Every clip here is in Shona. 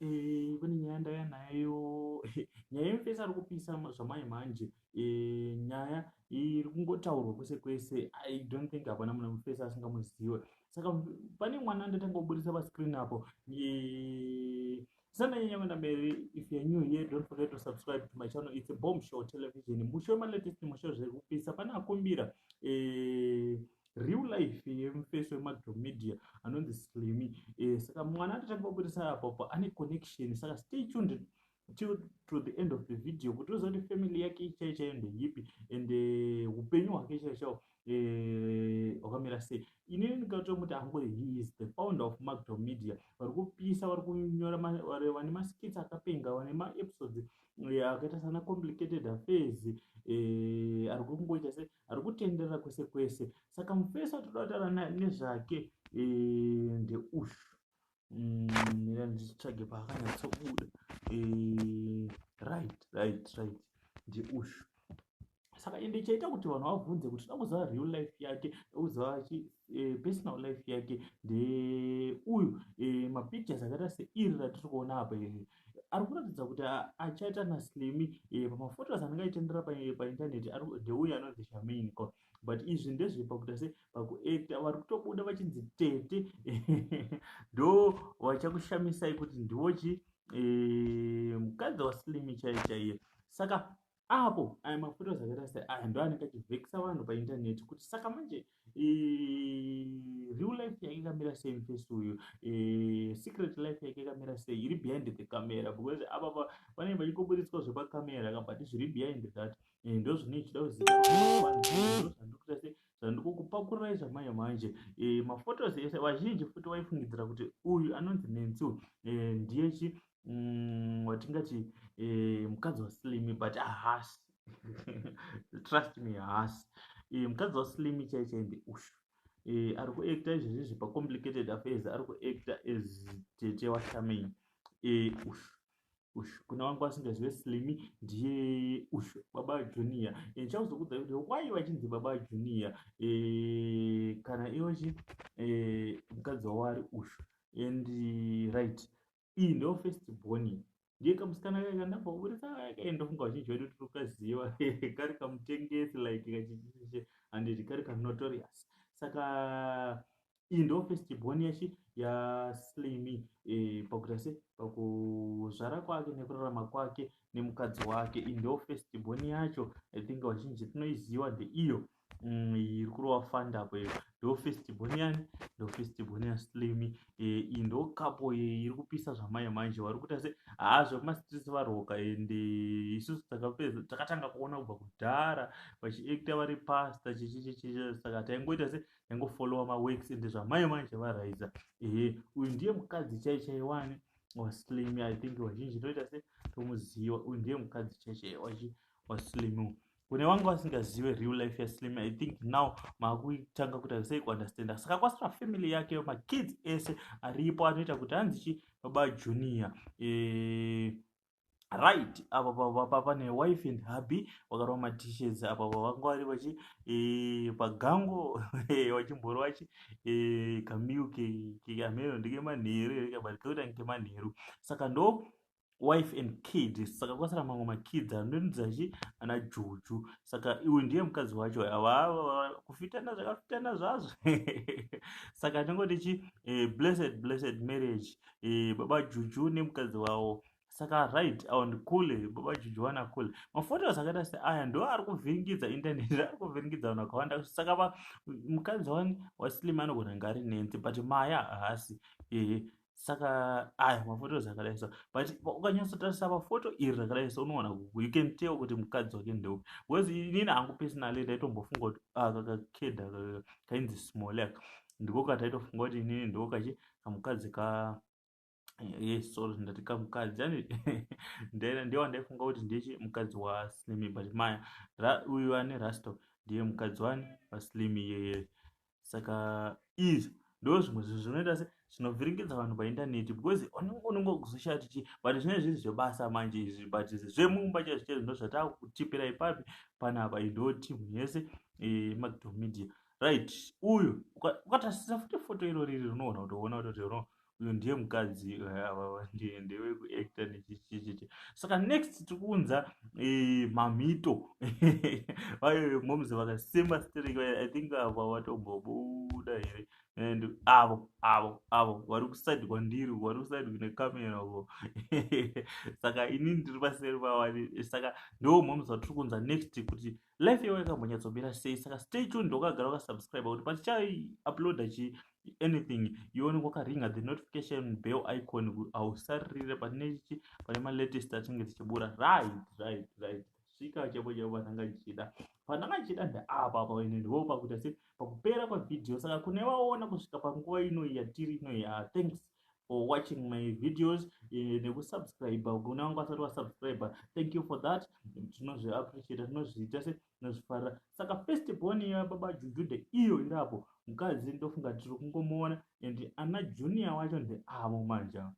Eh, kune nyaya ndaya nayo nyaya yemufesi ari kupisa zvamai manje eh, nyaya iri kungotaurwa kwese kwese i don't think hapana muna mufesi asingamuziwe saka pane mwana ndatanga kuburitsa pascreen apo eh, sananyanya kuenda mberi if you're new here don't forget to subscribe to my channel it's a bomb show television musho malatest musho zvekupisa pane akumbira eh, real life yemufesi wemadomedia anonzi slimy eh, saka mwana atatanga kubudisa apopo ane connection saka stay tuned till to the end of the video kuti uziva kuti family yake ichai chaiyo ndeyipi and eh, upenyu hwake chai chao eh, hwakamira sei inini ndikatomuti ango he is the founder of macdo media vari kupisa vari kunyora vane maskits akapenga vane maepisodes akaita sana complicated affairs ari kungoita se Ari kutenderera kwese kwese. Saka mufesi watoda kutaura naye nezvake eh, ndeuyu. Mm, mira ndichitsvage paakanyatsobuda. Eh, right, right, right. Ndeuyu saka ende chaita kuti vanhu vabvunze kuti toda kuziva real life yake tokuziva chi eh, personal life yake ndeuyu eh, mapictures akaita seiri ratiri kuona apa iri ari kuratidza kuti achaita naslimi eh, pamaphotos anenge aitendera paintaneti ndeuyo anonzi shamain ko but izvi ndezvepakuita se pakuacta vari kutobuda vachinzi tete ndo vachakushamisai kuti ndiwo chi eh, mukadzi waslimi chaiye chaiye saka apo aya mafuta zvakaita se aya ndo anenge achivhekisa vanhu paintaneti kuti saka manje real life yake ikamira sei mufesi uyu secret life yake ikamira sei iri behind the camera because apapa vanenge vachingoburitswa zvepakamera ka but zviri behind that ndo zvine chida kuziva zvandikuita se so ndikukupakururai zvamanye manje e, eh, mafotos ese vazhinji futi vaifungidzira kuti uyu anonzi nensi uyu e, ndiye chi mm, watingati mm, e, mukadzi waslimi but ahasi trust me ahasi e, mukadzi waslimi chai chai ndeushu e, ari kuacta izvezvi zvepacomplicated affairs ari kuacta as tete washamain e, ushu uyu kune vangu vasingazive slimi ndiye uyu baba junior and chakuzokudzai kuti why vachinzi baba junior e, kana iwe chi e, mukadzi wavo ari uyu and right iyi ndo first boni ndiye kamusikana kake kandamboburitsa kake ndofunga vazhinji vedu tiri kukaziva kari kamutengesi like kachichiche handiti kari kanotorious saka iyi ndo first born yachi yaslimi e, pakuita se pakuzvara kwake nekurarama kwake nemukadzi wake iyi ndo first born yacho i think vazhinji tinoiziva the iyo mm, iri mm, kurova fanda apo iyo ndo first born yani ndo first born yaslimi e, iyi ndo kapo iri kupisa zvamai manje vari kuita se haa zvekumasitisi varoka ende isusu takapedza takatanga kuona kubva kudhara vachiekta vari pasta chichichichichi saka taingoita se ndaingofollowa maworks ende zvamai manje varaidza ehe uyu ndiye mukadzi chai chai wani waslim i think vazhinji toita se tomuziva uyu ndiye mukadzi chai chai wachi waslim kune vanga vasingazive real life yaslim i think now maakutanga kuti aisai kuunderstanda saka kwasira family yake makids ese aripo anoita kuti hanzi chi baba junior e, right apa papa pane wife and hubby vakarova matishes apa pavanga vari vachi e, pagango e, vachimboro vachi e, kamil keamero ndekemanheru here kabati kekuti ange kemanheru saka ndo wife and kid saka kwasara mamwe makidzi anonzachi ana juju saka iwe ndiye mukadzi wacho avava kufitana zvakafitana zvazvo saka tinongotichi eh, blessed blessed marriage eh, baba juju nemukadzi wavo saka right and cool baba juju wana cool maphotos akaita seaya ndo ari kuvhiringidza internet ari kuvhiringidza vanhu vakawanda saka va mukadzi wani wasilimi anogona ngari nenzi but maya haasi ehe saka aya maphotos akadai so but ukanyatsotarisa pafoto iri rakadai so unoona you can tell kuti mukadzi wake ndeupi because inini hangu personally ndaitombofunga kuti ah, kakakeda kainzi smolek ndiko kataitofunga kuti inini ndiko kachi kamukadzi ka yes eh, sorry ndati kamukadzi yani ndiye wandaifunga kuti ndichi mukadzi waslimi but maya uyu ane rasto ndiye mukadzi wani waslimi iyeye saka is ndo zvimwe zvinhu zvinoita se zvinovhiringidza vanhu paindaneti because unenge kuzoshaya tichi but zvinenge zviri zvebasa manje izvi but zvemumba chaizvo chaizvo ndo zvataa kutipira ipapi panapa indoti munhu yese eh, macdomedia right uyu ukatasisa futi foto iro riri rinogona kutoona kuti uno uyu ndiye mukadzi eh, avava ndiye ndewe kuacta nechichichichi saka next tikuunza eh, mamhito vayo moms vakasema strek i think ava vatombobuda here and avo avo avo vari kusaidi kwandiri vari kusaidi kune kamera ko saka inini ndiri paseri pavani saka ndo moms vatiri kuunza next kuti life yavo yakambonyatsomira sei saka stay tune ndokagara wakasubscribe kuti patichai uploada chi anything yooneka wakaringa the notification bell icon hausarire pane chi pane malatest achinge tichibura right right right svika chaipo chaipo pandanga ndichida pandanga ndichida ndeapa apa ine ndivo pakuita se pakupera kwevhidhiyo saka kune vaona kusvika panguva ino yatiri ino ya thanks for watching my videos eh, nekusubscribe kune vanga vasati vasubscribe thank you for that tinozviappreciata tinozviita se tinozvifarira saka first born ya baba jujude iyo irapo mukadzi ndofunga tiri kungomuona and ana junior wacho ndeavo manja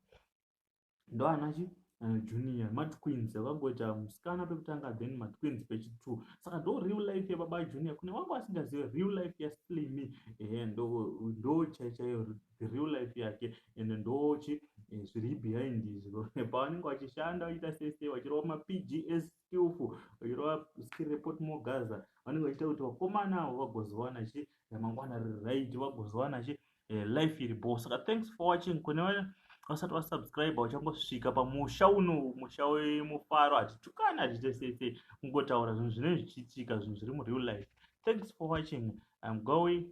ndoanachi eh, junior matwins akangoita musikana pekutanga then matwins pechi two saka ndo real life yababa junior kune vanga vasingazive real life yaslimi ehe ndo chaichaiyo the real life yake ende ndochi eh, zviri behind izvo pavanenge vachishanda vachiita sese vachirova mapgs skillful vachirova skill report mogaza vanenge vachiita kuti vakomana avo vagozowana chi ramangwana riri right vagozowana chi eh, life iri bo saka thanks for watching kune vasati vasubscribe uchangosvika pamusha uno musha wemufaro hatitukani hatiite sese kungotaura zvinhu zvinenge zvichiitika zvinhu zviri mureal life thanks for watching i'm going